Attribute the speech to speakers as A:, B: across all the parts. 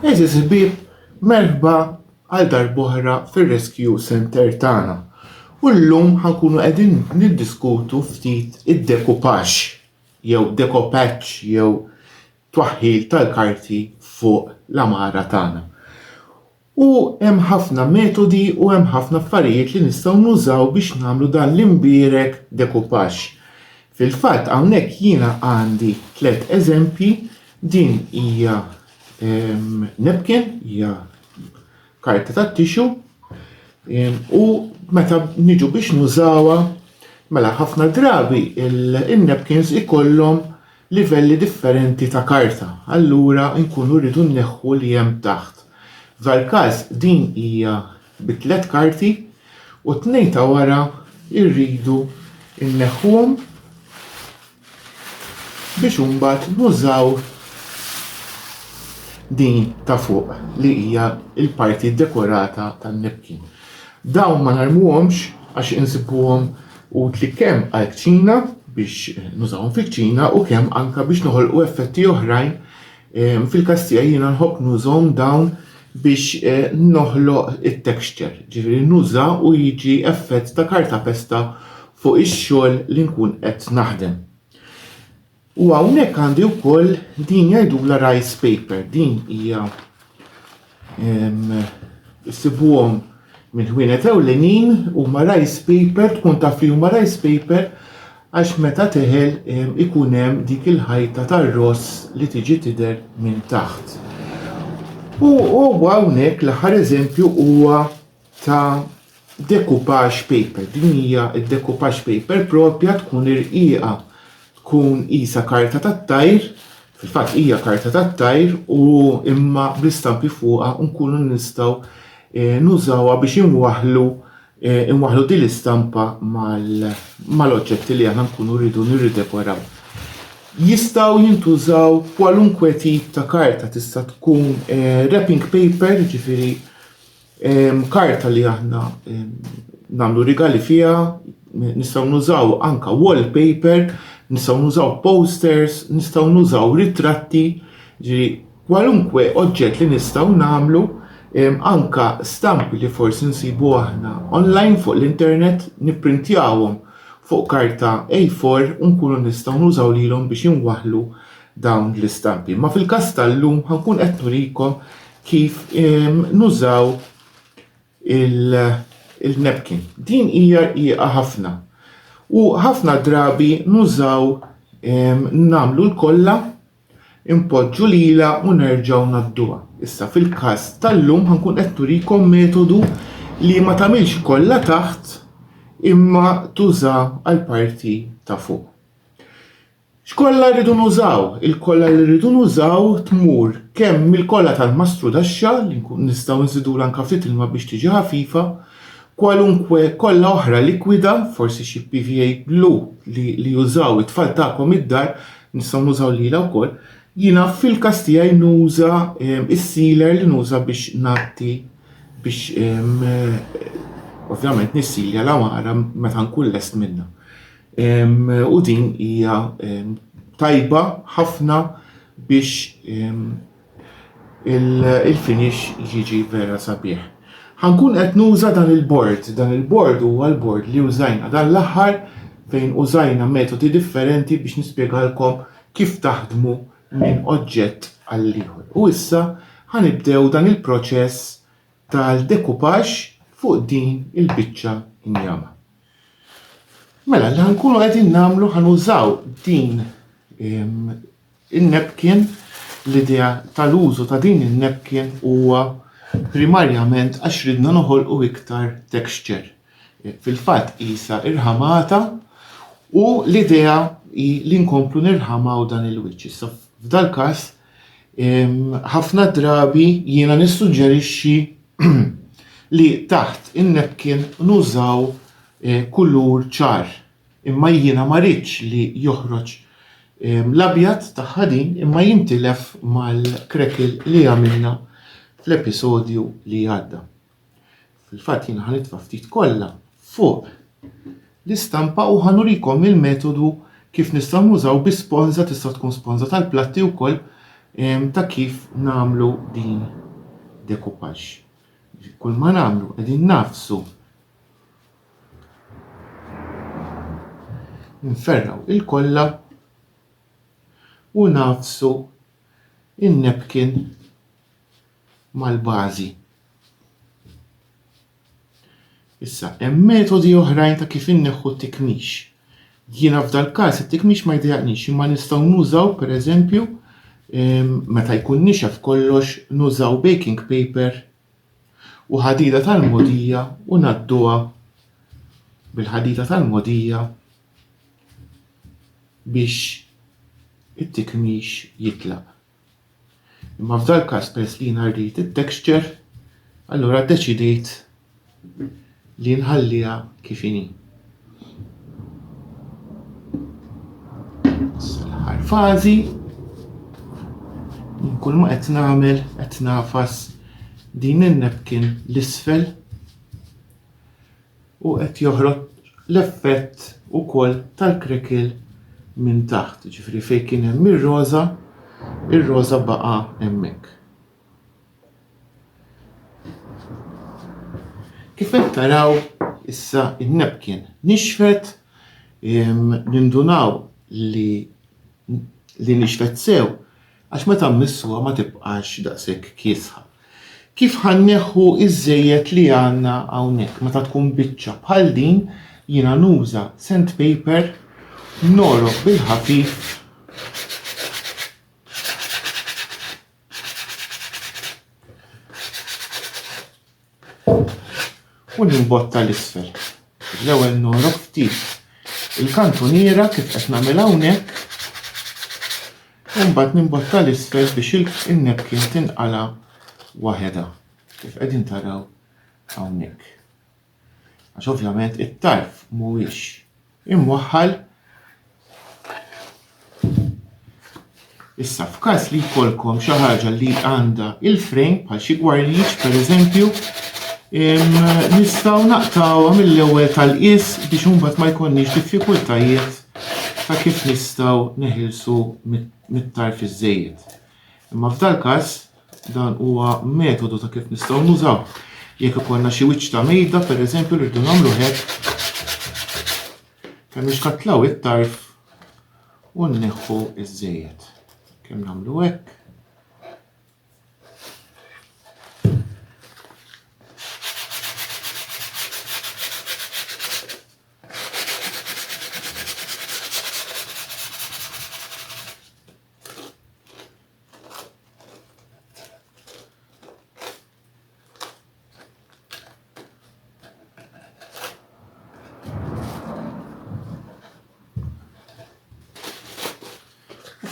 A: Għaziz ħbib, merħba għal darbohra fil-Rescue Center tagħna. U llum ħankunu qegħdin niddiskutu ftit id-dekupax jew dekopaċ jew twaħħil tal-karti fuq l-amara tagħna. U hemm ħafna metodi u hemm ħafna affarijiet li nistgħu nużaw biex nagħmlu dan l-imbierek decoupage. Fil-fatt hawnhekk jiena għandi tliet eżempji, din hija napkin, hija karta tat-tixu, u meta niġu biex nużawha, mela ħafna drabi in-napkins ikollhom livelli differenti ta' karta, allura nkunu rridu nneħħu li hemm taħt. F'dal-każ din hija bi tliet karti u t-tnejn ta' wara rridu nneħħuhom biex imbagħad nużaw din ta' fuq li hija l-parti dekorata tan-napkin. Dawn ma narmuhomx għax insibuhom utli kemm għall-kċina biex nużawhom fil-kċina u kemm anke biex noħolqu effetti oħrajn. Ehm, fil-każ tiegħi jiena nħobb nużhom dawn biex eh, noħloq it-texture, ġifieri nuża u jiġi effett ta' karta pesta fuq ix-xogħol li nkun qed naħdem. U hawnhekk għandi wkoll din jgħidula rice paper, din hija issibuhom minn ħwienet ewlenin huma rice paper tkun taf li huma rice paper għax meta teħel ikun hemm dik il-ħajta tar-ross li tiġi tidher minn taħt. U huwa hawnhekk l-aħħar eżempju huwa ta' decoupage paper. Din hija d-decoupage paper propja tkun irqiqa tkun qisha karta tat-tajr, fil-fatt hija karta tat-tajr u imma bl-istampi fuqha nkunu nistgħu eh, nużawha biex inwaħħlu eh, inwaħħlu din l-istampa mal-oġġetti li aħna nkunu rridu nirridekoraw. Jistgħu jintużaw kwalunkwe tip ta' karta tista' tkun eh, wrapping paper, ġifieri Karta li aħna nagħmlu rigali fiha, nistgħu nużaw anka wallpaper, nistgħu nużaw posters, nistgħu nużaw ritratti, ġi kwalunkwe oġġett li nistgħu nagħmlu, anka stampi li forsi nsibu aħna online fuq l-internet, nipprintjawhom fuq karta A4 u nkunu nistgħu nużaw lilhom biex inwaħħlu dawn l-istampi. Ma fil-każ tal-lum ħankun qed nurikom kif nużaw il-napkin. Din hija rqiqa ħafna. U ħafna drabi nużaw nagħmlu l-kollha impoġġu lila u nerġgħu nadduha. Issa fil-każ tal-lum ħankun qed turikom metodu li ma tagħmilx kollha taħt imma tuża għal parti ta' fuq. X'kolla rridu nużaw? Il-kolla li rridu nużaw tmur kemm mill-kolla tal-mastrudaxxa li nistgħu nżidulha anke ftit ilma biex tiġi ħafifa, kwalunkwe kolla oħra likwida, forsi xi PVA glue li li jużaw it-tfal tagħkom id-dar, nistgħu nużaw lilha wkoll. Jiena fil-każ tiegħi nuża ehm, is-sealer li nuża biex ngħatti biex ehm, eh, ovvjament nissilja l-għamara meta nkun lest minnha. U din hija tajba ħafna biex il-finish jiġi vera sabiħ. Ħankun qed nuża dan il-bord, dan il-bord huwa l-bord li użajna dan l-aħħar fejn użajna metodi differenti biex nispjegalkom kif taħdmu minn oġġett għal ieħor. U issa ħanibdew dan il-proċess tal-dekupaġġ fuq din il-biċċa injama. Mela, li ħankunu qegħdin nagħmlu ħanużaw din in-nepkin l-idea tal-użu ta' din in-nepkin huwa primarjament għax ridna noħolqu iktar texture. E, fil-fatt qisha irħamata u l-idea hi li nkomplu nirħamaw dan il-wiċċ. Issa f'dal-każ Ħafna drabi jiena nissuġġerixxi li taħt in-napkin nużaw eh, kulur ċar, imma jiena ma ridx li joħroġ l-abjad tagħha din imma jintilef mal-crackle li għamilna fl-episodju li għadda. Fil-fatt jien ħa nitfa' ftit kolla fuq l-istampa u ħa nurikom il-metodu kif nistgħu nużaw bi sponża tista' tkun sponża tal-platti wkoll ehm, ta' kif nagħmlu din decoupage. Kull ma nagħmlu qegħdin nagħfsu nferraw il-kolla u nagħfsu in-napkin mal-bażi. Issa, hemm metodi oħrajn ta' kif inneħħu t-tikmix. Jiena f'dal-każ it-tikmix ma jdejaqnix imma nistgħu nużaw pereżempju ehm, meta jkun nixef kollox nużaw baking paper u ħadida tal-modija u nadduha bil-ħadida tal-modija biex it-tikmix jitlaq. Imma f'dal każ peress li jiena rrid it-texture, allura ddeċidejt li nħalliha kif inhi. L-aħħar fażi kull ma qed nagħmel qed nafas din in-napkin l-isfel u qed joħroġ l-effett ukoll tal-krekil minn taħt, ġifri fejn kien hemm ir-roża, ir-roża baqa' hemmhekk. Kif qed taraw issa in-nepkin nixfet nindunaw li li nixfet sew Għax meta mmissuha ma tibqax daqshekk kiesħa. Kif ħa nneħħu ż-żejjed li għandna hawnhekk? Meta tkun biċċa bħal din jiena nuża sandpaper nogħrok bil-ħafif u nimbotta l-isfel. L-ewwel norob ftit il-kantuniera kif qed nagħmel hawnhekk u mbagħad nimbotta l-isfel biex il-nepkin tinqala' waħedha kif qegħdin taraw hawnhekk. Għax ovvjament it-tarf mhuwiex imwaħħal Issa f'każ li jkollkom xi ħaġa li għandha il-frame bħal xi gwarliġ pereżempju, nistgħu naqtgħuha mill-ewwel tal-qies biex imbagħad ma jkollniex diffikultajiet ta' kif nistgħu neħilsu mit-tarf iż-żejjed. Imma f'dal-każ Dan huwa metodu ta' kif nistgħu nużaw. Jekk ikollna xi wiċċ ta' mejda, pereżempju li rridu nagħmlu hekk, kemm nixkatlaw it-tarf u nneħħu iż-żejjed. Kemm nagħmlu hekk,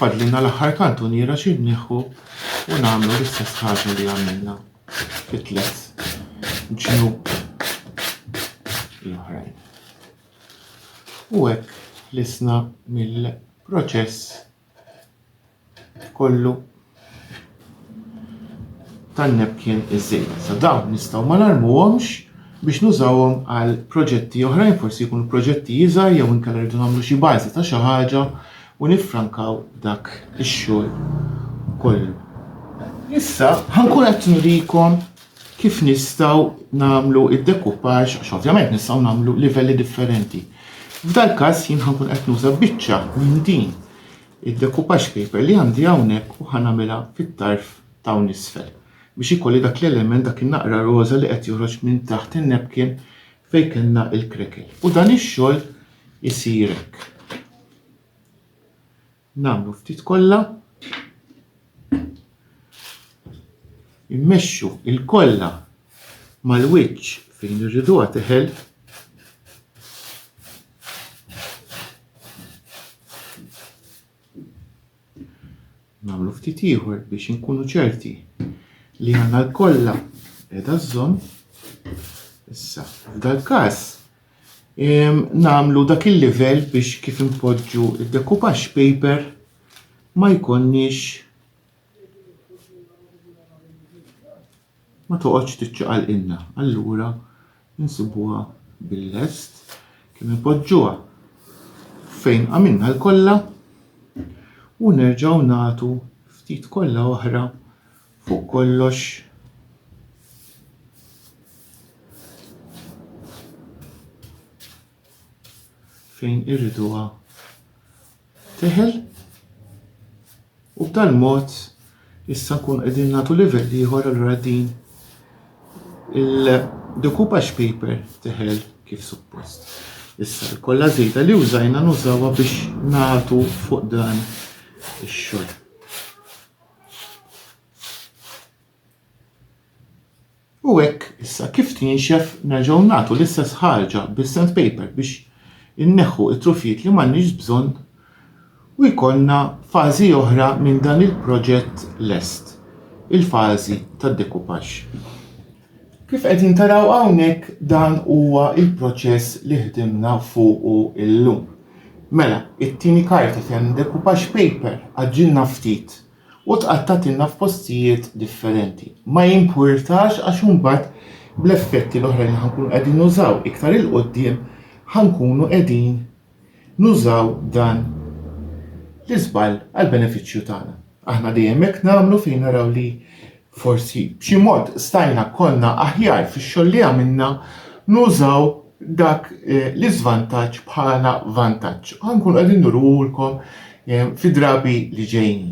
A: fadlina l-aħħar kantuniera xi nieħu u nagħmlu l-istess ħaġa li għamilna fit-tlet ġnub l-oħrajn. U hekk lisna mill proċess kollu tan-nepkien iżejt. Sa dawn nistgħu ma narmuhomx biex nużawhom għal proġetti oħrajn, forsi jkunu proġetti iżgħar jew inkella rridu nagħmlu xi bażi ta' xi ħaġa u niffrankaw dak ix-xogħol kollu. Issa ħankun qed nurikom kif nistgħu nagħmlu id-dekuppaġġ għax ovvjament nistgħu nagħmlu livelli differenti. F'dal-każ jien ħankun qed nuża biċċa minn din id-dekuppaġġ paper li għandi hawnhekk u ħanamilha fit-tarf t'hawn isfel biex ikolli dak l-element dak in-naqra roża li qed joħroġ minn taħt in-napkin fejn kellna l-krekel. U dan ix-xogħol isir hekk. Nagħmlu ftit kolla. Immexxu il-kolla mal-wiċċ fejn irriduha teħel. Nagħmlu ftit ieħor biex inkunu ċerti li għanna l-kolla edha żżomm. Issa, f'dal-każ, nagħmlu dak il-livell biex kif inpoġġu d-decoupage paper ma jkonniex ma toqgħodx tiċċaqal inna. Allura nsibuha bil-lest kif inpoġġuha fejn għamilna l-kollha u nerġgħu nagħtu ftit kollha oħra Fuq kollox, fejn irriduha teħel u b'tal mod issa nkun qegħdin nagħtu livell ieħor allura din il-decoupage paper teħel kif suppost. Issa l-kolla żejda li użajna nużawha biex nagħtu fuq dan ix-xogħol. U hekk issa kif tinxef nerġgħu nagħtu l-istess ħarġa bis-sand paper biex inneħħu t-trufijiet li m'għandniex bżonn u jkollna fażi oħra minn dan il-proġett lest, il-fażi tad-dekupaġġ. Kif qegħdin taraw hawnhekk dan huwa l-proċess li ħdimna fuqu llum. Mela, it-tieni karta fejn id-decoupage paper għaġġilna ftit u tqattgħatilna f'postijiet differenti. Ma jimpurtax għax imbagħad bl-effetti l-oħrajn li ħa nkunu qegħdin nużaw iktar 'il quddiem ħa nkunu qegħdin nużaw dan l-iżball għall-benefiċċju tagħna. Aħna dejjem hekk nagħmlu fejn naraw li forsi b'xi mod stajna konna aħjar fix-xogħol li għamilna nużaw dak eh, l-iżvantaġġ bħala vantaġġ. Ħankun qegħdin nurulkom eh, fi drabi li ġejjin.